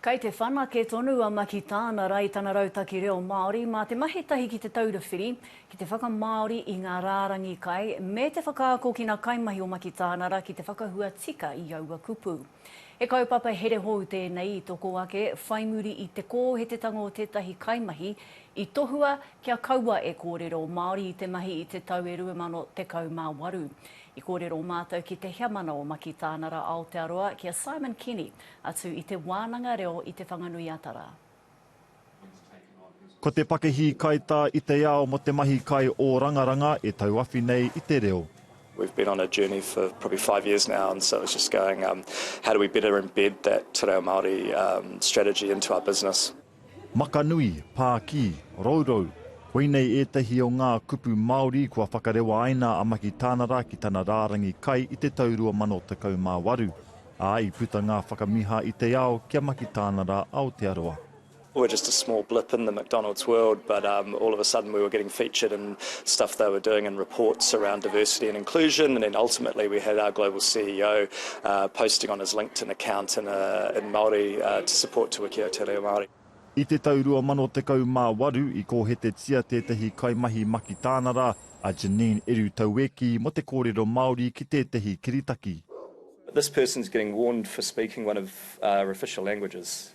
Kei te whanake tonu a Maki tāna ra i tana rautaki reo Māori mā te mahi tahi ki Te Taura Whiri ki te whakamāori i ngā rārangi kai me te whakaako ki nā kaimahi o Maki tāna ra ki te whakahua tika i aua kupu. He kaupapa here hou tēnei i toko ake whai muri i te kōhetetanga o tētahi kaimahi i tohua kia kaua e kōrero Māori i te mahi i te tau e 2018. I kōrero mātou ki te heamana o Maki tāna ra Aotearoa ki a Simon Kenny Atu i te wānanga reo i Te Whanganui-a-Tara. Ko te pakihī kaitā i te ao mo te mahi kai ō rangaranga e tauawhi nei i te reo. We've been on a journey for probably five years now and so it's just going how do we better embed that Te Reo Māori strategy into our business. Makanui, Pākī, Rourou, koinei ētahi o ngā kupu Māori kua whakarewa ai nā Amaki Tānara ki tana rārangi kai i te tau 2018, ā, i puta ngā whakamiha i te ao ki a Maki Tānara Aotearoa. were just a small blip in the McDonald's world but um all of a sudden we were getting featured in stuff they were doing and reports around diversity and inclusion and then ultimately we had our global CEO Uh, posting on his LinkedIn account in, uh, in Māori uh, to support Te Wiki o Te Reo Māori. I te tau 2018 i kōhetetia tētehi kaimahi makitānara, a Janine Eru Taueki mō te kōrero Māori ki tētehi kiritaki. This person's getting warned for speaking one of our official languages.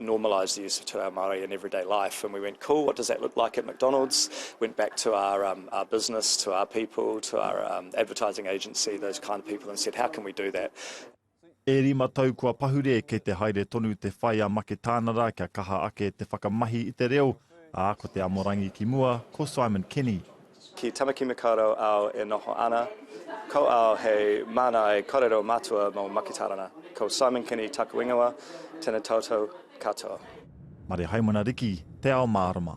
normalise the use of te reo Māori in everyday life and we went cool what does that look like at McDonald's went back to our um, our business to our people to our um, advertising agency those kind of people and said how can we do that E rima tau kua pahure kei te haere tonu te whai a Maketānara kia kaha ake te whakamahi i te reo, ā, ko te amorangi ki mua, ko Simon Kenny. Ki Tamaki Makaurau ao e noho ana ko au hei māngai korero matua mō Makitarana. Ko Simon Kenny taku ingoa, tena tautau katoa. Mare Haimana Riki, Te Ao Mārama.